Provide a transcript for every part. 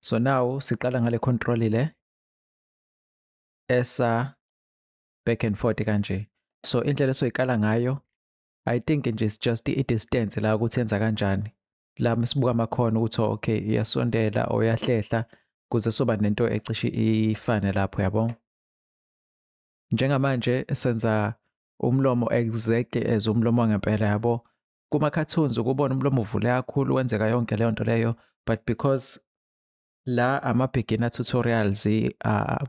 so now siqala ngale control le esa back and forth kanje so indlela esoyiqala ngayo i think nje it's just i-distance la ukuthi yenza kanjani la msibuka amakhona ukuthi oh, okay iyasondela or iyahlehla kuze soba nento ecishe ifane lapho yabo njengamanje senza umlomo exactly as umlomo wangempela yabo kuma-cartoons ukubona umlomo uvule kakhulu wenzeka yonke leyo nto leyo but because la ama-beginner tutorials uh,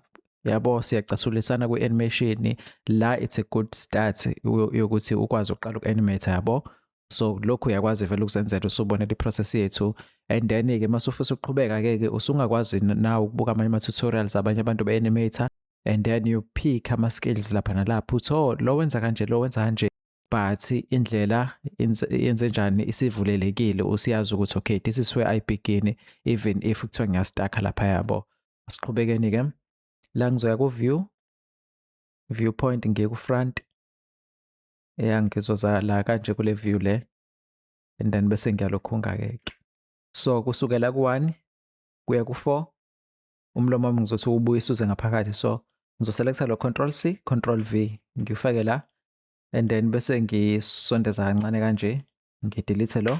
yabo siyacasulisana kwi-animation la it's a good start yokuthi ukwazi ukuqala uku-animate yabo so lokhu uyakwazi vele ukuzenzela usubonela i-process yethu and then-ke uma sufisa ukuqhubeka-ke ke usungakwazi na ukubuka amanye ama-tutorials abanye abantu be-animator and then you pick ama-skills lapha nalapha uthi oh lo wenza kanje lo wenza kanje but indlela yenze njani isivulelekile usiyazi ukuthi okay this is where i begin even if kuthiwa ngiyastakha lapha yabo siqhubekeni ke la ngizoya ku view viewpoint ngiye ku front ya ngizoza la kanje kule view le and then bese ngiyalokhunga ke so kusukela ku 1 kuya ku 4 umlomo wami ngizothi ubuyisa uze ngaphakathi so ngizoselecta lo control c control v ngifake la and then bese ngisondeza kancane kanje ngidelete lo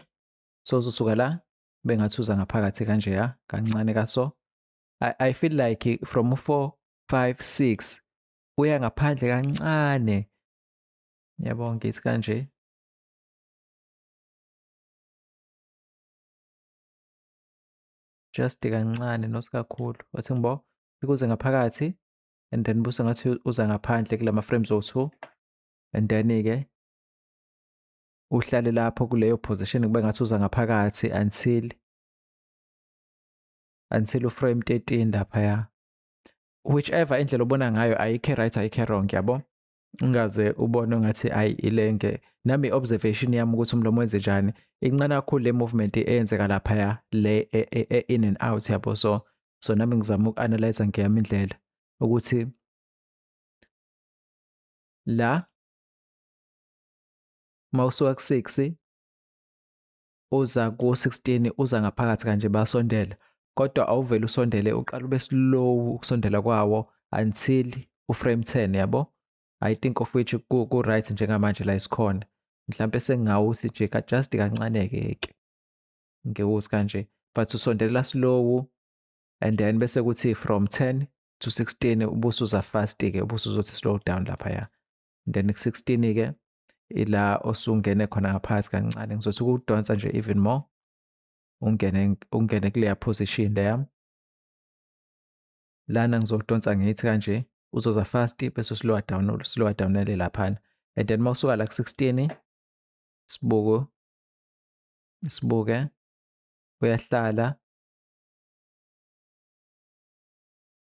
so uzosuka la bengathi uza ngaphakathi kanje ya kancane kaso I, I feel like from 4 5 6 uya ngaphandle kancane yabo ngithi kanje just kancane not kakhulu wathi ngibo ikuze ngaphakathi and then busa ngathi uza ngaphandle kulama frames owu-two and then-ke uhlale lapho kuleyo position kube ngathi uza ngaphakathi until until uframe 13 laphaya whichever indlela obona ngayo ayikho right ayikho wrong yabo ungaze ubone ngathi ayi ilenge nami observation yami ukuthi umlomo wenze njani incane kakhulu le movement eyenzeka lapha ya le e, e, e, in and out yabo so so nami ngizama ukuanalyze ngeyami indlela ukuthi la mawusuka ku6 uza ku 16 uza ngaphakathi kanje basondela kodwa awuvele usondele uqala ube slow ukusondela kwawo until u frame 10 yabo i think of which ku, ku right njengamanje la isikhona mhlambe sengawuthi nje ka just kancane ke ke ngewuzi kanje but usondelela slow and then bese kuthi from 10 to 16 ubusuza fast ke ubusuzothi slow down lapha ya then ku-16 ke ila osungene khona ngaphakathi kancane ngizothi ukudonsa nje even more ungene ungene kuleya position leya lana ngizodonsa ngithi kanje uzoza fast bese slow down slow down le laphana and then mawusuka la ku-16 sibuko sibuke uyahlala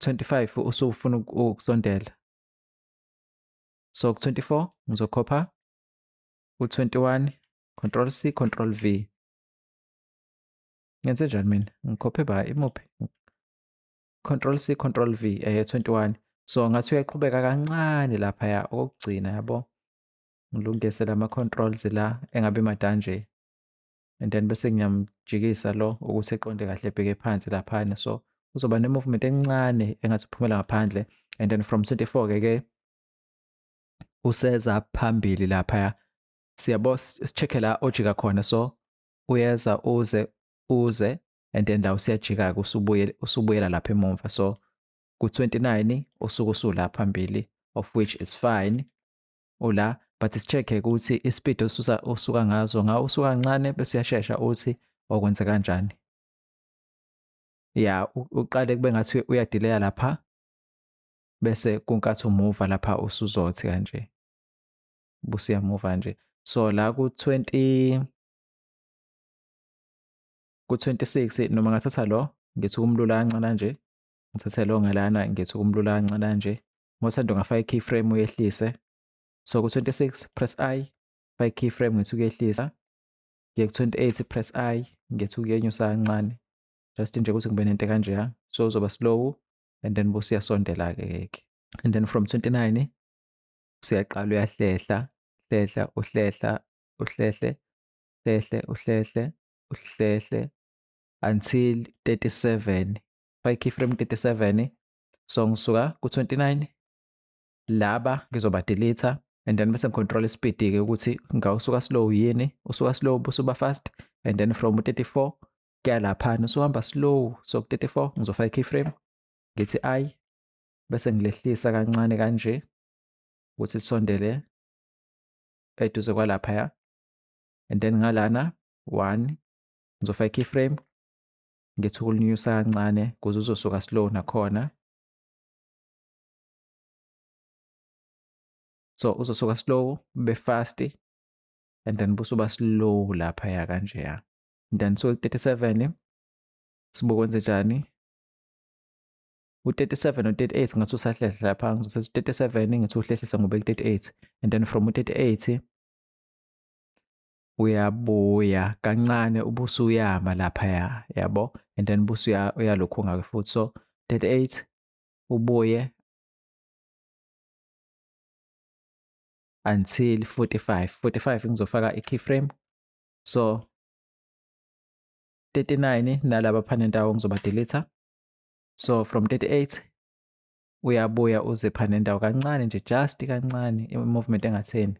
25 usufuna ukusondela so ku-24 ngizokhopha u-21 control c control v ngenze njani mina ngikhophe ba imuphi control c control v eh 21 so ngathi uyaqhubeka kancane lapha ya okugcina yabo ngilungise lama controls la engabe madanje and then bese ngiyamjikisa lo ukuthi eqonde kahle ebheke phansi laphana so uzoba ne-movement encane engathi uphumela ngaphandle and then from 24 ke ke useza phambili laphaya siyabo sicheck-e la ojika khona so uyeza uze uze and then la usiyajika-ke usubuyela lapha emumva so ku-29 usuke usulapha phambili of which is fine ula but sicheck-e ukuthi ispeed osusa osuka ngazo nga usuka kancane bese uyashesha uthi okwenze kanjani ya uqale kube ngathi uyadileya lapha bese kunkathi umuva lapha usuzothi kanje busiyamuva nje so la ku 20 ku 26 noma ngathatha lo ngithi kumlula kancane nje ngithathe lo ngalana ngithi kumlula kancane nje Ngothando ngafaka i-keyframe uyehlise. So ku-26 press I, faka i-keyframe ngithi ukuyehlisa. Ngiye ku-28 press I, ngithi ukuyenyusa kancane. Just nje ukuthi ngibe nento kanje ya. So uzoba slow and then bose uyasondela-ke keke. And then from 29 usuyaqala uyahlehla, hlehla, uhlehla, uhlehle, hlehle, uhlehle, uhlehle until 37. Faka i-keyframe 37 so ngisuka ku-29 laba ngizobadilitha and then bese ngicontrol ispeed-ke ukuthi ngawusuka slow yini usuka slow busuba fast and then from u-34 kuya laphana usuhamba slow so ku-34 ngizofaka i-keyframe ngithi i bese ngilehlisa kancane kanje ukuthi lisondele eduze kwalaphaya and then ngalana 1 ngizofaka i-keyframe ngithi ukulinyusa kancane kuze uzosuka slow nakhona so uzosuka slow be fast and then busuba slow lapha ya kanje ya then so 37 sibokwenze njani u-37 no-38 ngathi usahlehla lapha ngizothatha u-37 ngithi uhlehlisa ngobe ku-38 and then from u-38 uyabuya kancane ubuso uyama laphaya yabo and then ubuso uyalokhu ngayo futhi so 38 ubuye until 45 45 ngizofaka i-keyframe so 39 nalaba phana ndawo ngizoba delete so from 38 uyabuya uze phana ndawo kancane nje just kancane i-movement engatheni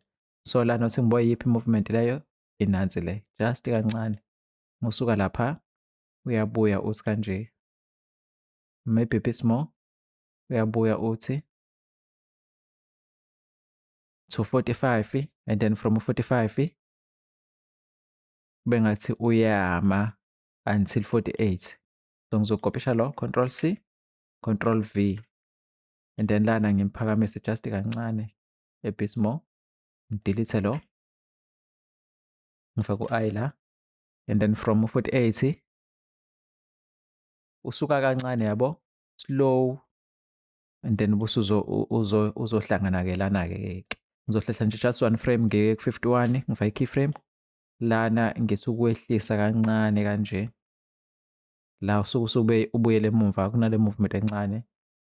so la nothi ngibo yiphi movement leyo inansi le just kancane musuka lapha uyabuya uthi kanje maybe bit more uyabuya uthi to 45 and then from 45 bengathi uyama until 48 so ngizokophisha lo control c control v and then lana ngimphakamisa just kancane ebismore ngidilithe lo ngifake u-i la and then from futhi ethi usuka kancane yabo slow and then busuzo uzo uzohlangana ke lana ke ngizohlehla nje just one frame ngeke ku 51 ngifake key frame lana ngithi ukwehlisa kancane kanje la usuke usube ubuyele emuva kunale movement encane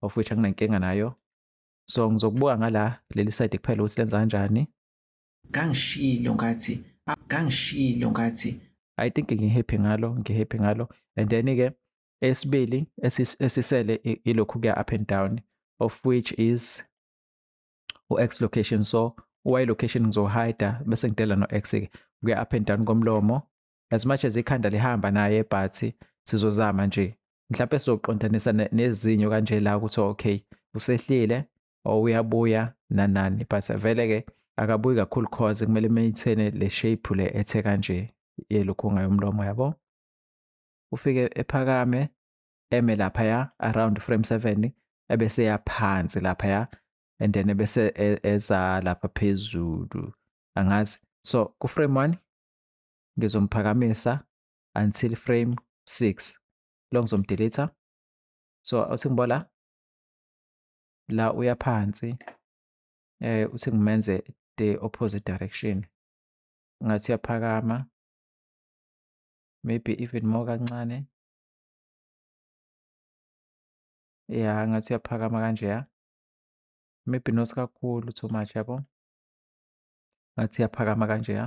of which anginankinga nayo so ngizokubuka ngala leli side kuphela ukuthi lenza kanjani ngangishilo ngathi ngangishilo ngathi i think ngihappy ngalo ngihappy ngalo and then ke esibili esisele ilokhu kuya up and down of which is u-x location so y location ngizohida bese ngidela no-x ke kuya up and down komlomo as much as ikhanda lihamba naye but sizozama nje mhlawumbe sizoqondanisa nezinyo kanje la ukuthi okay usehlile or uyabuya nanani but vele ke akabuyi kakhulu cause kumele maintain le shape le ethe kanje yelukhunga yomlomo yabo ufike ephakame eme lapha ya around frame 7 ebese yaphansi lapha ya and then ebese e, eza lapha phezulu angazi so ku frame 1 ngizomphakamisa until frame 6 lo ngizomdeleta so uthi ngiba la la uya phansi eh uthi ngimenze the opposite direction ngathi uyaphakama maybe even more kancane ya ngathi uyaphakama kanje ya maybe not kakhulu too much yabo ngathi uyaphakama kanje ya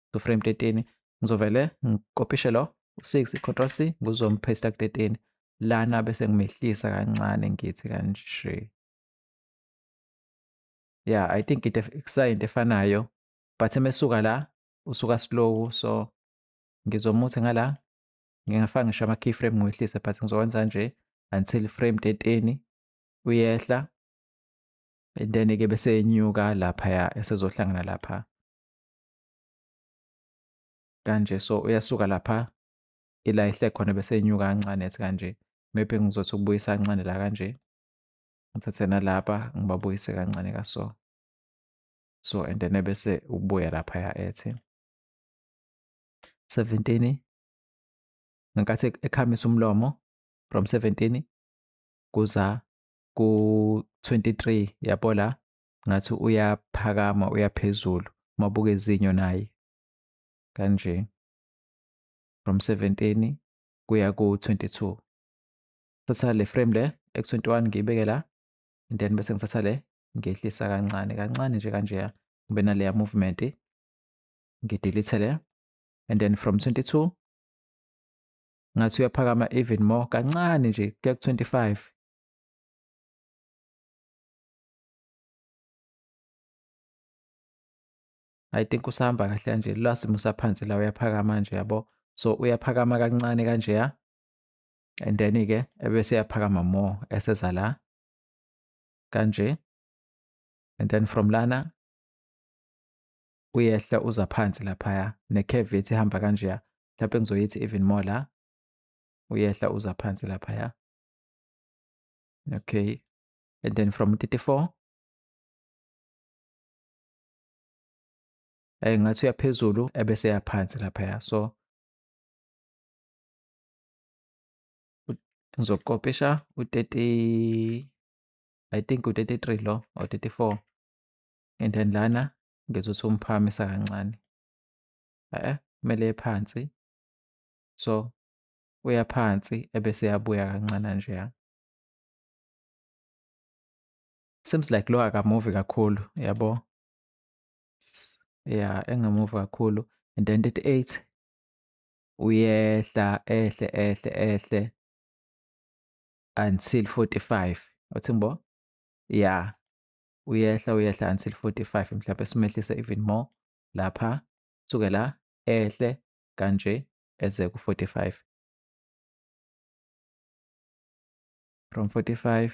kuframe 13 ngizovele ngikopishe lo u6 control c ngizomphesta ku13 lana bese ngimehlisa kancane ngithi kanje yeah i think it kusayinto efanayo but emesuka la usuka slow so ngizomuthi ngala ngingafaka ngisho ama keyframe ngiwehlise but ngizokwenza nje until frame 13 uyehla and then ke bese enyuka lapha ya esezohlangana lapha kanje so uyasuka lapha ila ihle khona bese inyuka kancane ethi kanje maybe ngizothi ukubuyisa kancane la kanje ngithathe nalapha ngibabuyise kancane kaso so and then ebese ubuya laphaya ethi 17 ngenkathi ekhamisa umlomo from 17 kuza ku-23 yabo la ngathi uyaphakama uyaphezulu mabuka izinyo naye kanje from 17 kuya ku-22 thatha le frame le x21 ngiyibeke la and then bese ngithatha le ngehlisa kancane kancane nje kanjeya ngibe naleya movement ngidelete le and then from 22 ngathi uyaphakama even more kancane nje kuya ku-25 I think usahamba kahle kanje la simo saphansi la uyaphakama nje yabo so uyaphakama kancane kanje ya and then ke ebese yaphakama more eseza la kanje and then from lana uyehla uza phansi laphaya necurve ethi ihamba kanjeya mhlawumpe ngizoyithi even more la uyehla uza phansi laphaya okay and then from 34 eh ngathi uyaphezulu ebese yaphansi lapha ya so ngizokopisha u30 i think u33 lo or 34 and then lana ngizothi umphamisa kancane eh kumele ephansi so uya phansi ebese yabuya kancane nje Seems like lo akamuvi kakhulu yabo. Yeah, engamuvi kakhulu and then 38 uyehla ehle ehle ehle until 45 uthi ngibo yeah uyehla uyehla until 45 mhlawumbe simehlise even more lapha suke la ehle kanje eze ku-45 from 45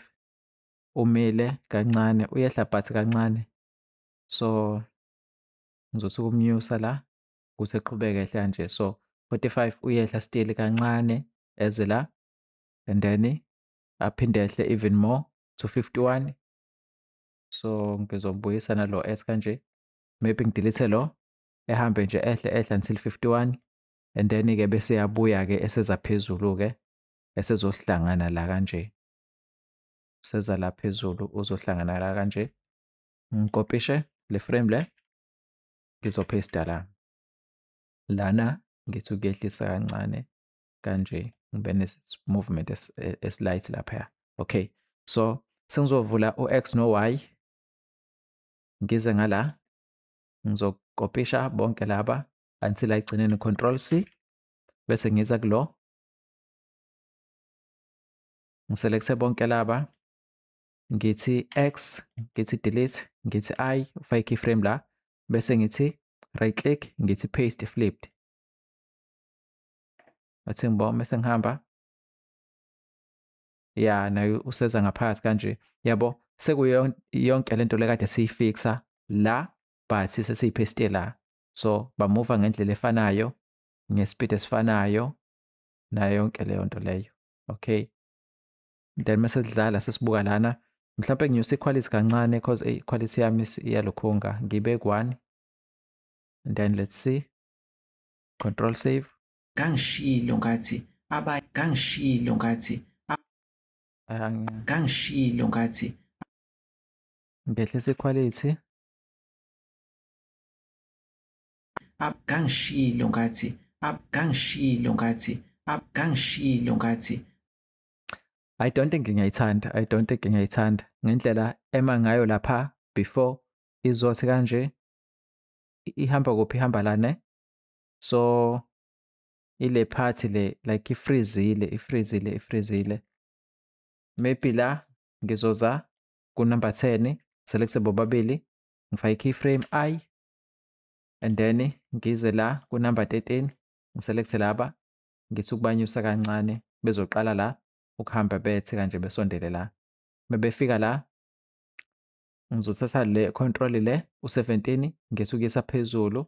umile kancane uyehla but kancane so ngizothi kumnyusa la kuze qhubeke ehla nje so 45 uyehla still kancane eze la and then aphinde ehle even more to 51 so ngizombuyisa nalo s kanje maybe ngidilithe lo ehambe nje ehle ehle until 51 and then ke bese yabuya ke eseza phezulu ke esezohlangana la kanje seza la phezulu uzohlangana la kanje ngikopishe le frame le ngizophesta la lana ngithi ukuyehlisa kancane kanje ngibe ne-movement e-, esilight laphaya okay so sengizovula u-x no-y ngize ngala ngizokopisha bonke laba until ayigcine ne-control c bese ngiza kulo ngiselekthe bonke laba ngithi x ngithi delete ngithi i ufake keyframe la bese ngithi right click ngithi paste flipped athi ngibona bese ngihamba ya nayo useza ngaphakathi kanje yabo sekuyo yonke lento lekade siyifixa la but sesiyipestela so bamuva ngendlela efanayo ngespeed esifanayo nayo yonke leyo nto leyo okay then mase sidlala sesibuka lana mhlawumbe nginyusa iquality kancane because eyi iquality yami iyalokhunga ngibe ku-one and then let's see control save ngangishilo ngathi aba ngangishilo ngathi ngangishilo ngathi ngehlisa iquality abgangishilo ngathi abgangishilo ngathi abgangishilo ngathi I don't think ngiyayithanda I don't think ngiyayithanda ngendlela ema ngayo lapha before izothi kanje ihamba kuphi ihamba la ne so ile phathi le like ifrizile ifrizile ifrizile maybe la ngizoza kunumber 10 select bobabili ngifake keyframe i and then ngize la kunumber 13 ngiselekte laba ngithi ukubanyusa kancane bezoqala la ukuhamba bethe kanje besondele la mebefika la ngizothatha le control le u17 ngesukisa phezulu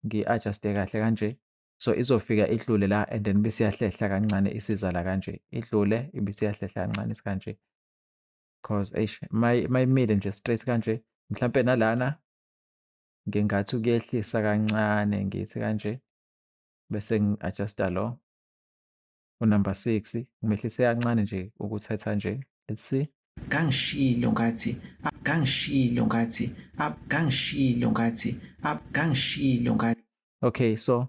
ngi-adjuste kahle kanje so izofika idlule la and then bisiyahlehla kancane isiza la kanje idlule ibisiyahlehla kancane sikanje cause eish mayimile nje straight kanje mhlampe nalana ngingathi ukuyehlisa kancane ngithi kanje bese ngi-adjusta lo unumber six ngimehlise kancane nje ukuthetha nje let's see kangishilo ngathi kangishilo ngathi kangishilo ngathi kangishilo ngathi okay so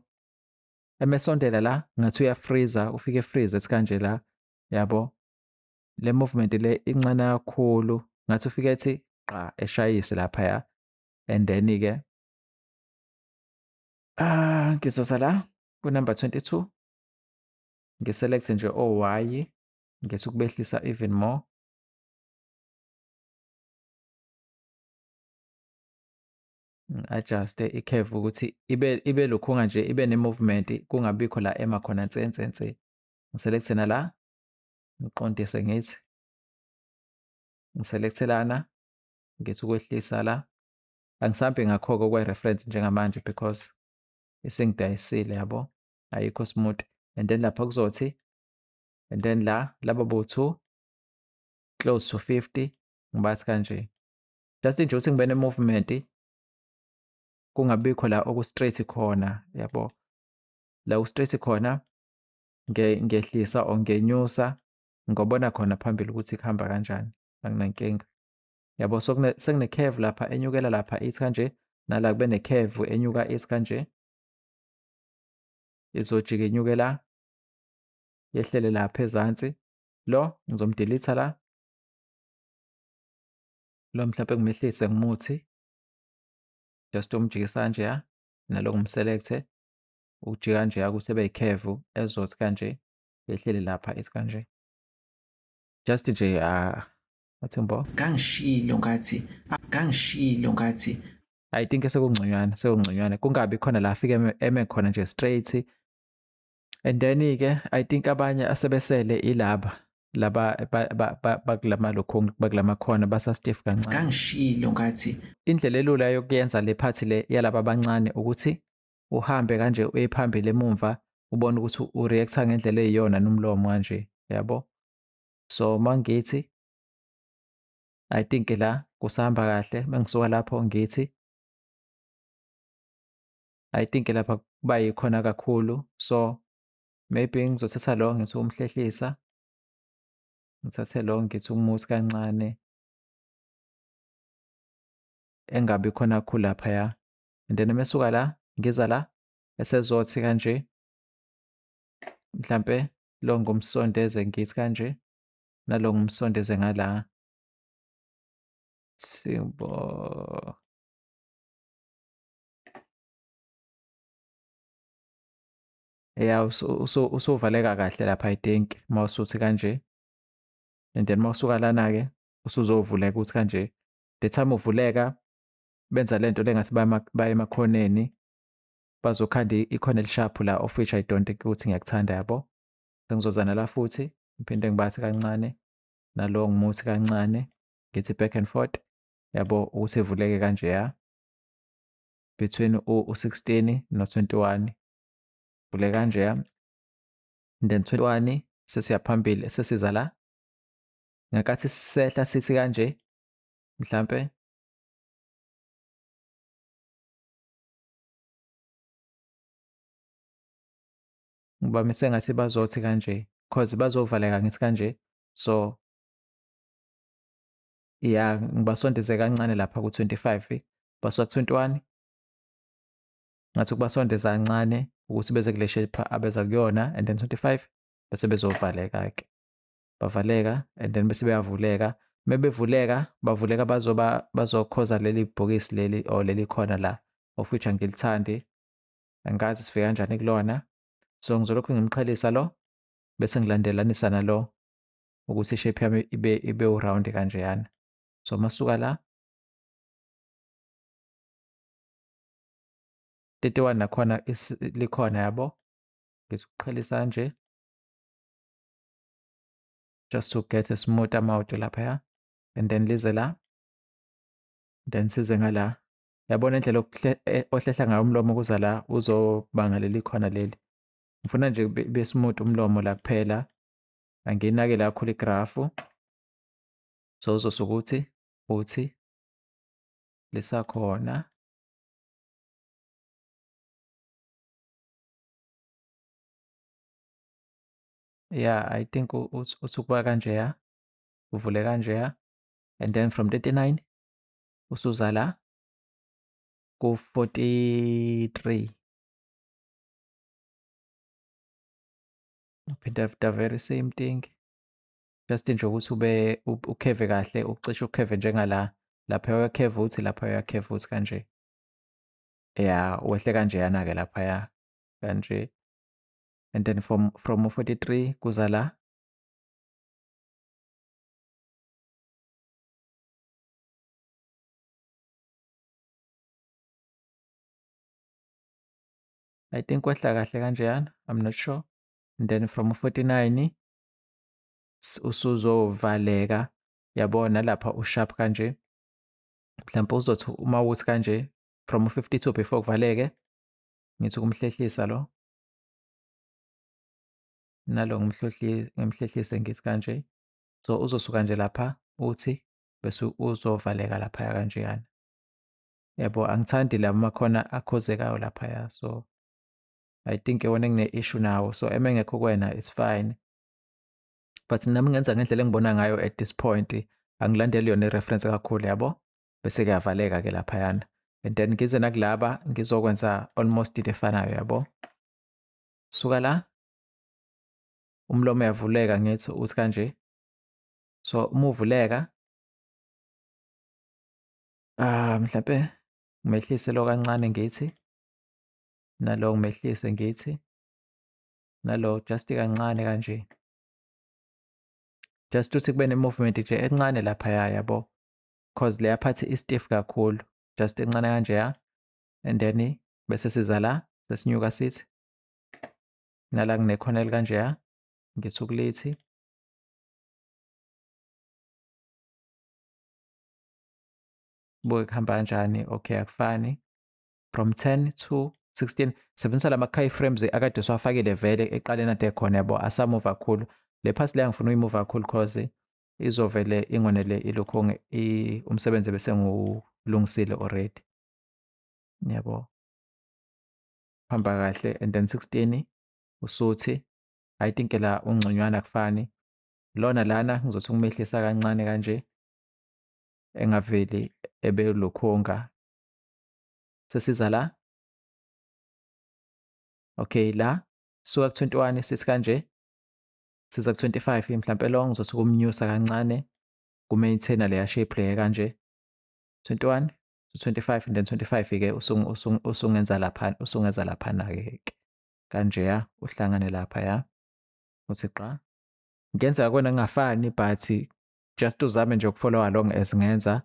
emesondela la ngathi uyafreezer ufike freeze ethi kanje la yabo le movement le incane kakhulu ngathi ufike ethi qa eshayise laphaya and then ke ah ngizosa la ku number 22 ngiselect nje o y ngese ukubehlisa even more adjust i-curve ukuthi ibe ibe lokhunga nje ibe ne-movement kungabikho la ema khona nsensense ngiselect na la ngiqondise ngithi ngiselekte lana ngithi ukwehlisa la angisambi ngakho-ke okwe-reference njengamanje because isingidayisile yabo ayikho smooth and then lapha kuzothi and then la laba bo-two close to 50 ngibathi kanje just nje ukuthi ngibe ne-movement kungabikho la okustraight khona yabo la kustraight khona ngehlisa or ngenyusa ngobona khona phambili ukuthi kuhamba kanjani anginankinga yabo so sekunekheve lapha enyukela lapha ithi kanje nala kube nekheve enyuka ithi kanje izojika inyuke la yehlele lapha ezansi lo ngizomdelitha la lo mhlawumbe ngimehlise ngimuthi just umjikisa kanje ya nalo ngimselekthe ukujika nje akuthi ebe yikhevu ezothi kanje yehlele lapha ethi kanje just nje ah athembo kangishilo ngathi kangishilo ngathi i think sekungconywana sekungconywana kungabi khona la afike eme khona nje straight and then ke i think abanye asebesele ilaba laba bakulama lokho bakulama khona basa stiff kancane kangishilo ngathi indlela elula yokuyenza le party le yalaba abancane ukuthi uhambe kanje uye phambili emumva ubone ukuthi ureacta ngendlela eyiyona nomlomo kanje yabo so mangithi i think la kusahamba kahle mengisuka lapho ngithi i think lapha kuba yikhona kakhulu so maybe ngizothatha lo ngithi umhlehlisa ngithathe lo ngithi umuthi kancane engabi khona khulu laphaya and then mesuka la ngiza la esezothi kanje mhlampe lo ngumsondeze ngithi kanje nalo ngumsondeze ngala simbo ya usuvaleka kahle lapha i think uma usuthi kanje and then uma usuka lana-ke usuzovuleka ukuthi kanje the time uvuleka benza lento lengathi baye emakhoneni bazokhanda ikhona elishaphu la of which I don't think ukuthi ngiyakuthanda yabo sengizozana la futhi ngiphinde ngibathi kancane nalo ngimuthi kancane ngithi back and forth yabo ukuthi evuleke kanjeya between u-16 no-21 vule kanjeya and then 21 sesiya phambili sesiza la ngakathi sehla sithi kanje mhlampe ngoba mise ngathi bazothi kanje cause bazovaleka ngithi kanje so ya ngibasondeze kancane lapha ku-25 basuka ku-21 ngathi ukubasondeza kancane ukuthi beze kule shape abeza kuyona and then 25 bese bezovaleka-ke bavaleka and then bese beyavuleka mebevuleka bavuleka bazoba bazokhoza leli bhokisi leli or leli khona la of which angilithandi angikazi sifika kanjani kulona so ngizolokhu ngimqhelisa lo bese ngilandelanisa nalo ukuthi ishape yami ibe ibe uround kanjeyana so masuka la 31 nakhona likhona yabo ngizokuqhelisa kanje just to get a smooth amount laphaya and then lize la then size ngala yabona indlela eh, ohlehla ngayo umlomo kuza la uzobanga leli khona leli ngifuna nje kube smooth umlomo la kuphela angiyinake la khulu igrafu so uzosuke ukuthi uthi lisakhona yeah i think usukuba kanjeya uvule kanjeya and then from 39 usuza la ku-43 uphinda the very same thing just nje ukuthi ube ukheve kahle ucishe ukheve njengala lapha uyakheva uthi lapha uyakheva uthi kanje ya wehle kanjeyana-ke laphaya kanje and then from from 43 kuza la I think kwehla kahle kanjeyana I'm not sure and then from 49 usuzovaleka yabona lapha usharp kanje mhlawumbe uzothi uma uthi kanje from 52 before kuvaleke ngithi ukumhlehlisa lo nalo ngimhlehlise ngithi kanje so uzosuka nje lapha uthi bese uzovaleka laphaya kanjeyana yabo angithandi la makhona akhozekayo laphaya so i think iwona engine-issue nawo so eme ngekho kwena it's fine but nami ngenza ngendlela engibona ngayo at this point angilandeli yona i-reference kakhulu yabo bese kuyavaleka ke laphayana and then ngize nakulaba ngizokwenza almost into efanayo yabo suka la umlomo uyavuleka ngithi uthi kanje so uma uvuleka ah mhlawumbe ngimehlise lo kancane ngithi nalo ngimehlise ngithi nalo just kancane kanje just ukuthi kube ne-movement nje encane laphaya yabo cause leya part istiff kakhulu just incane kanjeya and then bese siza la sesinyuka sithi nala nginekhona elikanjeya ngithi ukulithi buke kuhamba kanjani okay akufani from 10 to 16 sebenzisa lama key frames akade siwafakile vele eqaleni ade khona yabo asamuva kakhulu le phasi leya ngifuna uyimuva kakhulu cause izovele ingonele ilokho umsebenzi bese ngiwulungisile already yabo hamba kahle and then 16 usuthi i think la ungconywana kufani lona lana ngizothi ukumehlisa kancane kanje engaveli ebelokhonga sesiza la okay la suka ku-21 sithi kanje siza ku-25 mhlampe lo ngizothi kumnyusa kancane ku-maintainer leya shape leya kanje 21 to 25 and then 25 ke usungenza lapha usungenza laphana ke kanje ya uhlangane lapha ya uthi qa ngenzeka kwena ngingafani but just uzame nje ukufollow along as ngenza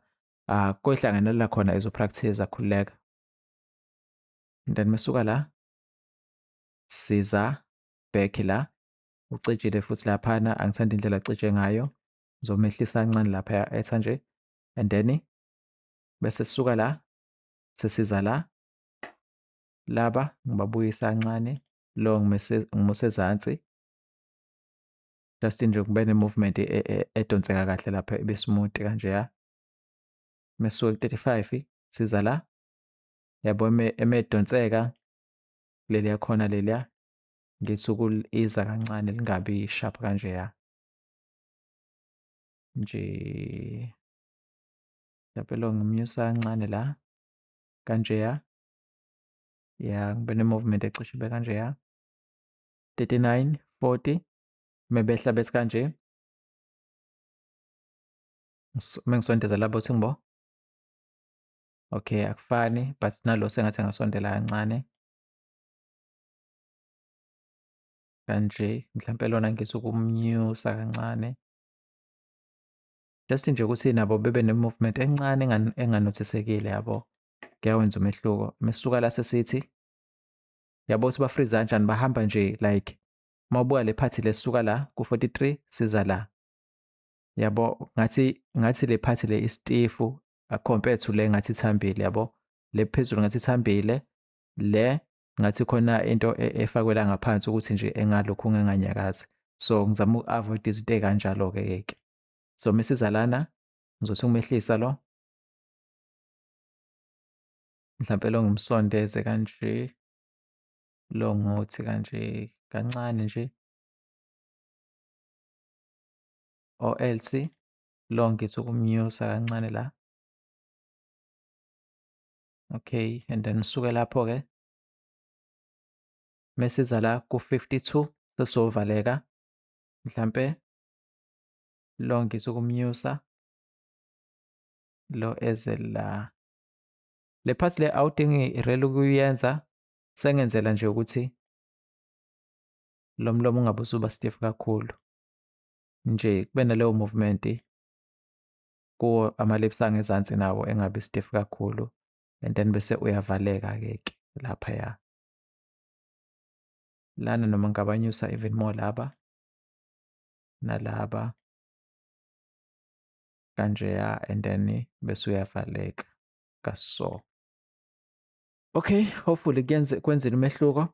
uh, ah, koyihlanganela khona ezopractice akhululeka and then mesuka la siza back la ucijile futhi laphana angithandi indlela acije ngayo ngizomehlisa kancane lapha etha nje and then bese sisuka la sesiza la laba ngibabuyisa kancane lo ngimuse ezansi just nje kube ne-movement e, e, e, edonseka kahle lapha ibe smooth kanjeya mesuke ku-35 siza la yabo emedonseka leliya khona leliya Ngisuku iza kancane lingabi sharp kanjeya. Nje lapelo ngimnyusa kancane la kanjeya. Ya ngibe ne-movement ecishe ibe kanjeya. 39, 40 mebehla bese kanje. Mengisondeza labo ukuthi ngibo. Okay akufani but nalo sengathi engasondela kancane. kanje mhlampe lona ngizokumnyusa kancane just nje ukuthi nabo bebe ne-movement encane enganothisekile yabo kuyawenza umehluko mesisuka la sesithi yabo ukuthi bafriza kanjani bahamba nje like uma ubuka le phathi lesuka la ku-43 siza la yabo ngathi ngathi le phathi le istifu compared to le ngathi ithambile yabo le phezulu ngathi ithambile le ngathi khona into e, efakwe la ngaphansi ukuthi nje engalokhu nginganyakazi so ngizama uku-avoid izinto ey'kanjalo-ke keke so mesiza lana ngizothi ukumehlisa lo mhlampe lo ngimsondeze kanje lo ngothi kanje kancane nje or else lo ngithi ukumnyusa kancane la Okay, and then usuke lapho ke mesiza la ku-52 sesizovaleka mhlampe lo ngizwe ukumnyusa lo eze la le part le awudingi irel ukuyenza sengenzela nje ukuthi lo mlomo ungabe usuba stiff kakhulu nje kube naleyo movement kuwo amalips angezansi nawo engabi stiff kakhulu and then bese uyavaleka ke ke lapha ya lana noma ngabanyusa even more laba nalaba kanjeya and then bese uyavaleka kaso okay hopefully kuyenze kwenzile umehluko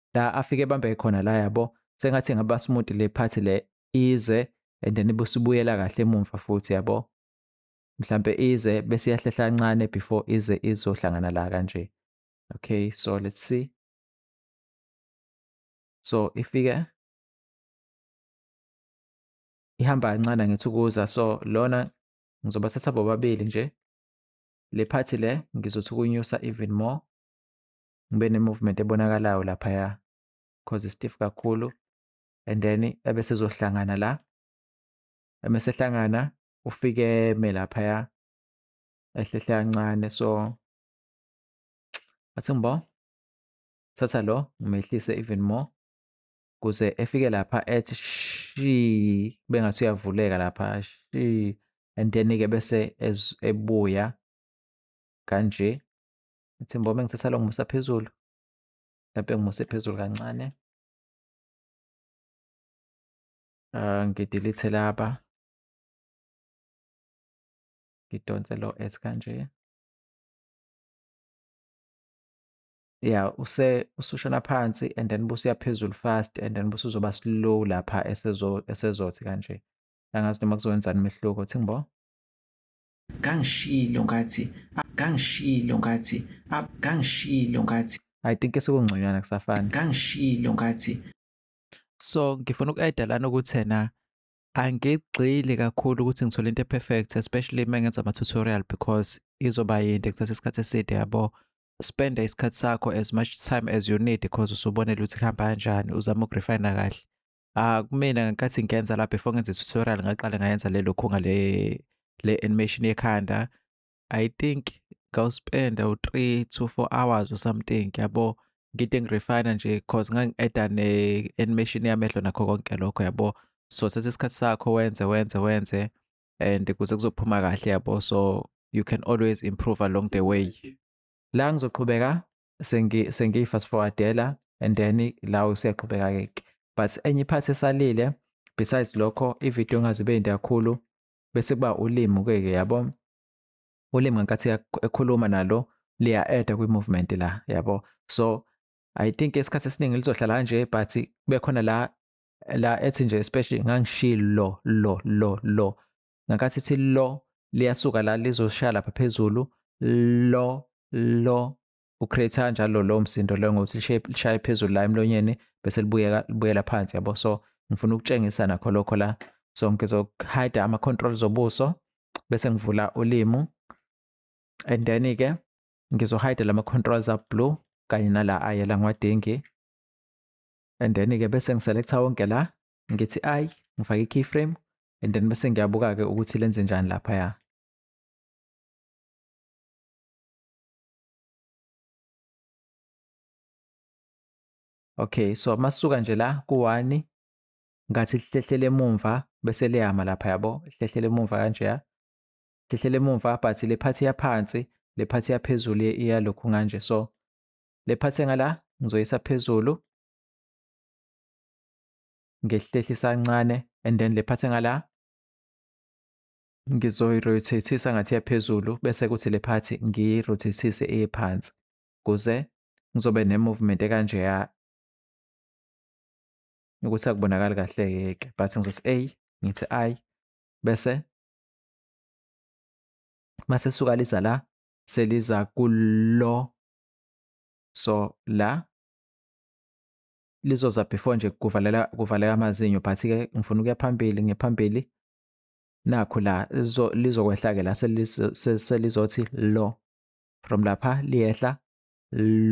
la afike bambeke khona la yabo sengathi ngaba smooth le part le ize and then busibuyela kahle emumva futhi yabo mhlambe ize bese yahlehla kancane before ize izohlangana la kanje okay so let's see so ifike ihamba kancane ngithi ukuza so lona ngizobathatha bobabili nje le part le ngizothi ukunyusa even more ngibe ne-movement ebonakalayo laphaya cause stiff kakhulu and then ebe sezohlangana la emesehlangana ufike eme laphaya ehlehle kancane so athi ngibo thatha lo ngimehlise even more kuze efike lapha ethi shi bengathi uyavuleka lapha shi and then-ke bese ebuya kanje Ngithi mbo uma ngithatha lo ngimusa phezulu. Mhlampe ngimuse phezulu kancane. Uh, ngidilithe laba. Ngidonse lo S kanje. ya use usushona phansi and then busuya phezulu fast and then busuzoba slow lapha esezo esezothi kanje angazi noma kuzowenza imehluko thingibo Kangishilo ngathi kangishilo ngathi kangishilo ngathi I think sekungconywana kusafana. Kangishilo ngathi so ngifuna uku-add lana ukuthi na angigxili kakhulu ukuthi ngithole into perfect especially uma ngenza ama tutorial because izoba yinde kuthatha isikhathi eside yabo spenda isikhathi sakho as much time as you need because usubonela ukuthi kuhamba kanjani uzama ukurefina kahle Ah kumina ngenkathi ngenza la before ngenze tutorial ngaqala ngayenza le lokho ngale le animation yekhanda. I think ngawuspenda u-3 to 4 hours or something yabo. Ngide ngirefine nje cause ngangi-add-a ne-animation yamehlo nakho konke lokho yabo. So thatha isikhathi sakho wenze wenze wenze and kuze kuzophuma kahle yabo. So you can always improve along the way. La ngizoqhubeka sengiyi-fast forwardela and then la usuyaqhubeka-ke ke but enye iphathi esalile besides lokho ividiyo engazibe yinde kakhulu bese kuba ulimi ke-ke yabo ulimi ngenkathi ekhuluma nalo liya-eda kwi-movement la yabo so i think isikhathi esiningi lizohlala kanje but kube khona la la ethi nje especially ngangishilo lo lo lo ngenkathi ithi lo liyasuka la lizoshaya lapha phezulu lo lo ucreate kanjalo lo msindo lo ngokuthi lishaye phezulu la emlonyeni bese libuyeka libuyela phansi yabo so ngifuna ukutshengisa nakho lokho la so ngizohide ama-control zobuso bese ngivula ulimu and then-ke ngizohide lama-controls a-blue kanye nala ayela ngiwadingi and then-ke bese ngiselekta wonke la ngithi I ngifake i-keyframe and then bese ngiyabuka-ke ukuthi lenze njani laphaya. Okay, so masuka nje la ku-one ngathi lihlehlele emumva bese liyama lapha yabo, lihlehlele emumva kanjeya. Lihlehlele emumva but le phathi yaphansi, le phathi yaphezulu iyalokhu nganje. So le phathi engala ngizoyisa phezulu. ngehlehlisa kancane and then lephathe ngala ngizoyirotathisa ngathi yaphezulu bese kuthi le phathi ngiyirotathise iye phansi kuze ngizobe ne-movement ekanjeya ukuthi akubonakali kahle yeke but ngizothi a ngithi i bese mase suka liza la seliza kulo so la lizoza before nje kuvalela kuvaleka amazinyo but ke ngifuna ukuya phambili ngephambili nakho la lizokwehla ke la selizothi lo from lapha liyehla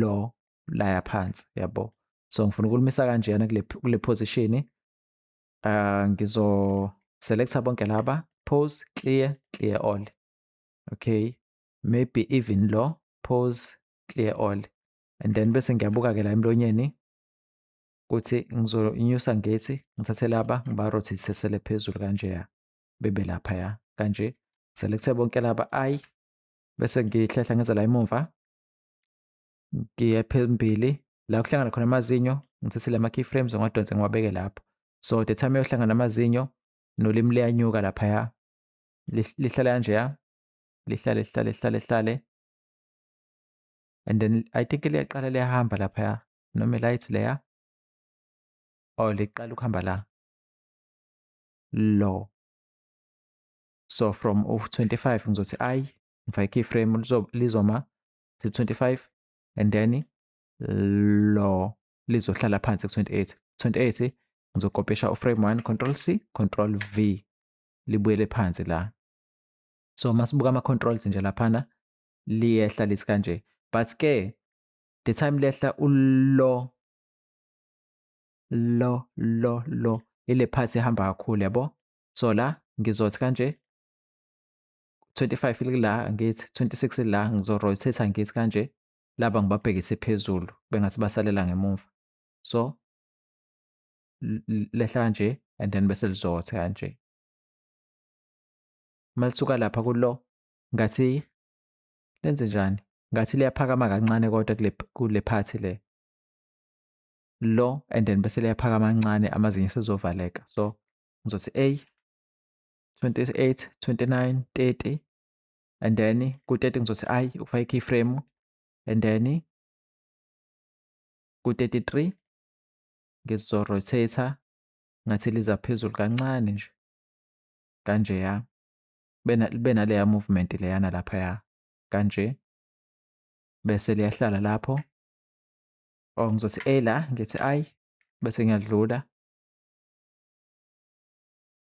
lo laya phansi yabo so ngifuna ukulumisa kanjena kule kule position uh ah, ngizo selecta bonke laba pose clear clear all okay maybe even lo pose clear all and then bese ngiyabuka-ke la emlonyeni ukuthi ngizonyusa ngethi ngithathe laba ngibarothisesele phezulu kanjeya bebe laphaya kanje selekuthe bonke laba ayi bese ngihlehla ngize la emuva ngiye phambili la kuhlangana khona amazinyo ngithathile ama-keyframes ngiwadonse ngiwabeke lapho so the time eyohlangana amazinyo nolimi liyanyuka laphaya lihlale kanjeya lihlale lihlale lihlale lihlale and then i think liyaqala liyahamba laphaya noma light leya or oh, liqala ukuhamba la lo so from u-25 ngizothi i ngifake iframe lizoma si-25 and then lo lizohlala phansi ku-28 28 ngizokopesha uframe 1 control c control v libuyele phansi la so masibuka ama-controls nje laphana liyehla lithi kanje but ke the time lehla ulo lo lo lo ile part ehamba kakhulu yabo so la ngizothi kanje 25 likula ngithi 26 la ngizo rotate ngithi kanje laba ngibabhekise phezulu bengathi basalela ngemumva so lehla kanje and then bese lizothi kanje malisuka lapha kulo ngathi lenze njani ngathi liyaphakama kancane kodwa kule kule phathi le lo and then bese liyaphakama kancane amazinyo sezovaleka so ngizothi a 28 29 30 and then ku-30 ngizothi i ukufaka i-key frame and then ku-33 ngizorotator ngathi liza phezulu kancane nje kanjeya bena bena leya movement leyana lapha ya kanje bese liyahlala lapho or oh, ngizothi a la ngithi i bese ngiyadlula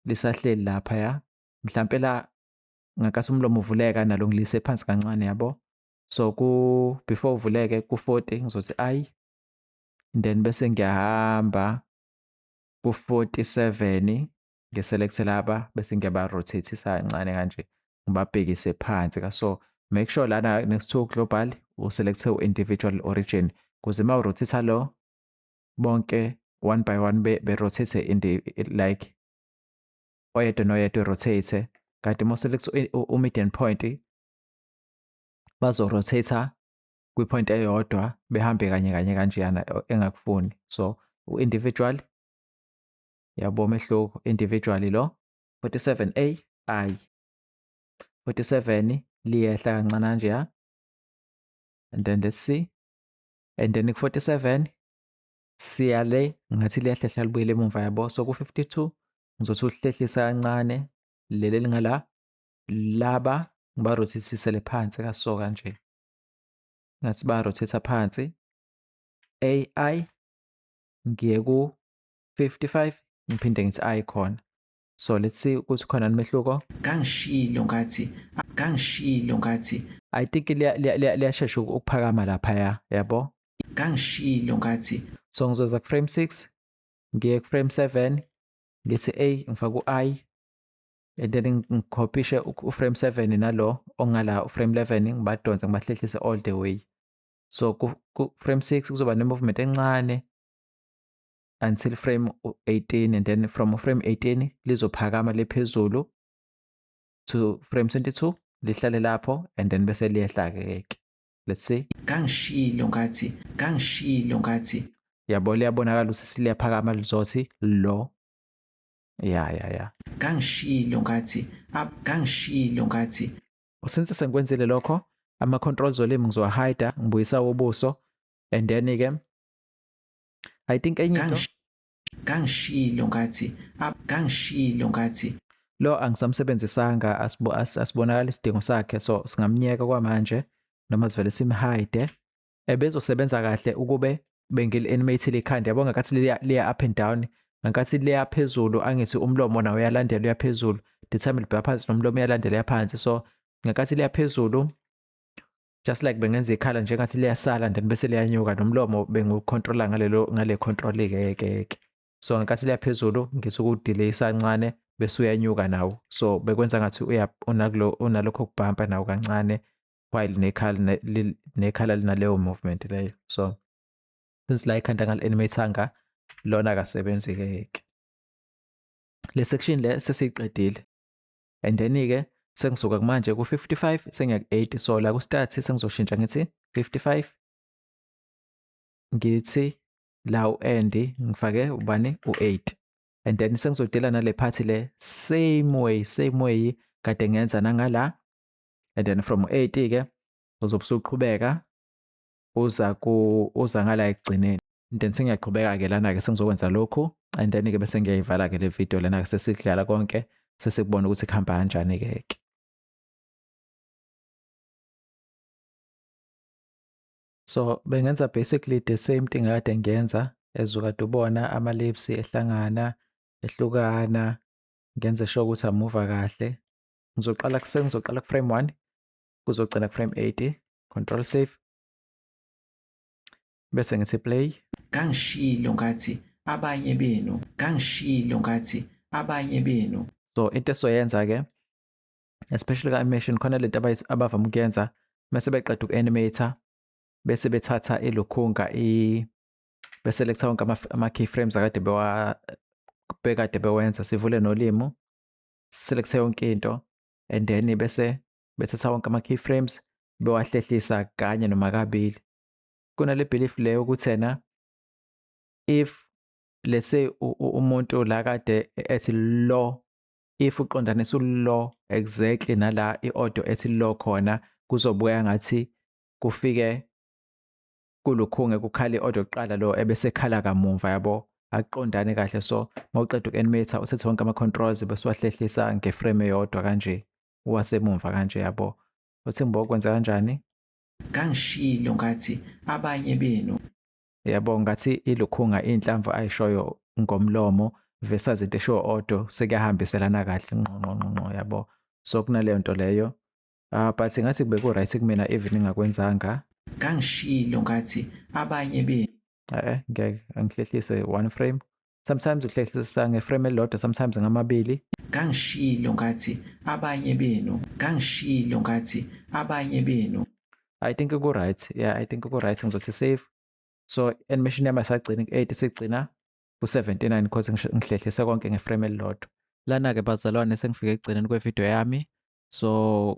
lisahleli lapha ya mhlampe la ngakase umlomo uvuleka nalo ngilise phansi kancane yabo so ku before uvuleke ku 40 ngizothi i then bese ngiyahamba ku 47 ngiselekte laba bese ngiyabarotathisa kancane kanje ngibabhekise phansi ka so make sure lana next to global uselekte u-individual origin kuze uma urotatha lo bonke one by one berotate like oyedwa noyedwa erotate kanti uma uselekte u-median point bazorotatha kwi-point eyodwa behambe kanye kanye kanjeyana engakufuni so u-individual Yabo umehluko individually lo 47A ayi 47 liyehla kancane nje ya. And then let's see. And then ku-47 siya le ngathi liyahlehla libuyele emuva yabo. So ku-52 ngizothi uhlehlisa kancane leli elingala laba ngibarothisisele phansi kaso kanje. Ngathi barothisa phansi. AI ngiye ku 55 ngiphinde ngithi i khona so let's see ukuthi khona umehluko kangishilo ngathi kangishilo ngathi i think liyashesha ukuphakama lapha ya yabo kangishilo ngathi so ngizoza ku frame 6 ngiye ku frame 7 ngithi a ngifaka u-i and then ngikhophishe uframe 7 nalo ongala uframe 11 ngibadonse ngibahlehlise all the way so ku-frame 6 kuzoba ne-movement encane until frame 18 and then from frame 18 lizophakama lephezulu to frame 22 lihlale lapho and then bese liyehla ke let's see kangishilo ngathi kangishilo ngathi yabo liyabonakala ukuthi siliyaphakama lizothi lo ya ya ya kangishilo ngathi kangishilo ngathi since sengikwenzile lokho ama controls olimi ngizowa hide ngibuyisa ubuso and then ke I think enye into Kangish- Kangishilo ngathi ah, kangishilo ngathi lo angisamsebenzisanga asibo- as- asibonakali isidingo sakhe so singamnyeka kwamanje noma sivele simhide ebezosebenza kahle ukube bengili-animate likhanda yabo ngakathi liya liya up and down ngakathi liya phezulu angithi umlomo nawo uyalandela uya phezulu ndithami libheka phansi nomlomo uyalandela uya phansi so ngakathi liya phezulu just like bengenza ikhala njengathi liyasala and then bese liyanyuka nomlomo bengucontrola ngalelo ngale control ke ke ke so ngenkathi liyaphezulu ngisukudelay isancane bese uyanyuka nawo so bekwenza ngathi uya unakulo unalokho kubhampa nawo kancane while nekhala nekhala linaleyo movement leyo so since la ikhanda ngal animatanga lona akasebenzi ke ke le section le sesiyiqedile and then ke sengisuka kumanje ku 55 sengiya ku 80 so la ku start sengizoshintsha ngithi 55 ngithi la u end ngifake ubani u 8 and then sengizodela nale part le same way same way kade ngenza nangala and then from 8 ke uzobe usuqhubeka uza ku uza ngala ekugcineni and then sengiyaqhubeka ke lana ke sengizokwenza lokhu and then ke bese ngiyayivala ke le video lana ke sesidlala konke sesikubona ukuthi kuhamba kanjani ke ke so bengenza basically the same thing kade ngiyenza ezukade ubona ama lips ehlangana ehlukana ngenze sure ukuthi amuva kahle ngizoqala kusengizoqala ku frame 1 kuzogcina ku frame 80 control save bese ngithi play kangishilo ngathi abanye benu kangishilo ngathi abanye benu so into esoyenza ke especially ka-animation khona lento abavama ukuyenza mese beqeda uku-animator bese bethatha ilokhunga i beselekta wonke ama-keyframes akade bekade bewenza sivule nolimo selekte yonke into and then bese bethatha wonke ama-keyframes bewahlehlisa kanye noma kabili kunale belief leyo ukuthi ena if let's say umuntu la kade ethi lo if uqondanisa ulo exactly nala i-audio ethi lo khona kuzobuya ngathi kufike kulukhunge kukhale i-audio kuqala lo ebese khala kamumva yabo akuqondane kahle so mawuqeda uku-animator usethe wonke ama-controls besiwahlehlisa ngeframe eyodwa kanje wasemumva kanje yabo uthi mbo kwenza kanjani kangishilo ngathi abanye benu yabo ngathi ilukhunga inhlamvu ayishoyo ngomlomo versus into eshiwo odo sekuyahambiselana kahle nqonqonqonqo yabo so kunaleyo nto leyo uh, but ngathi kube ku-right kumina even ingakwenzanga kangishilo ngathi abanye benu eh ngeke angihlehlise one frame sometimes uhlehlisa ngeframe elilodwa sometimes ngamabili ngangishilo ngathi abanye benu ngangishilo ngathi abanye benu i think ku-right yeah i think ku-right ngizothi save so animation yami asagcini ku-8 isigcina ku-79 because ngihlehlise konke ngeframe elilodwa lana-ke bazalwane sengifike ekugcineni kwevidiyo yami so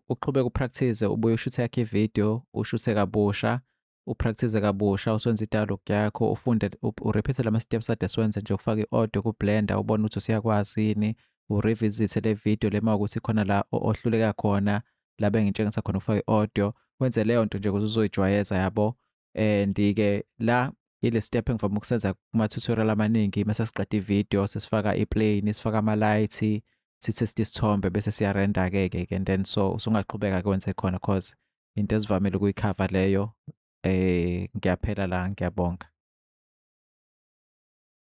uqhubeke upractice ubuye ushuthe yakhe ividiyo ushuthe kabusha upractice kabusha uswenza i-dialogue yakho ufunde urepeathe lama steps ade siwenze nje ukufaka i-audio ku-blender ubone ukuthi usiyakwazi yini urevisithe le video lema ukuthi khona la ohluleka khona la bengitshengisa khona ukufaka i-audio wenze leyo nto nje ukuthi uzoyijwayeza yabo and-ke la ile step engivame ukusenza kuma-tutorial amaningi mase siqeda i-video sesifaka i-plane sifaka ama-light sithe sithombe bese siyarenda-ke-ke and then so usungaqhubeka-ke wenze khona cause into esivamile ukuyikhava leyo eh ngiyaphela la ngiyabonga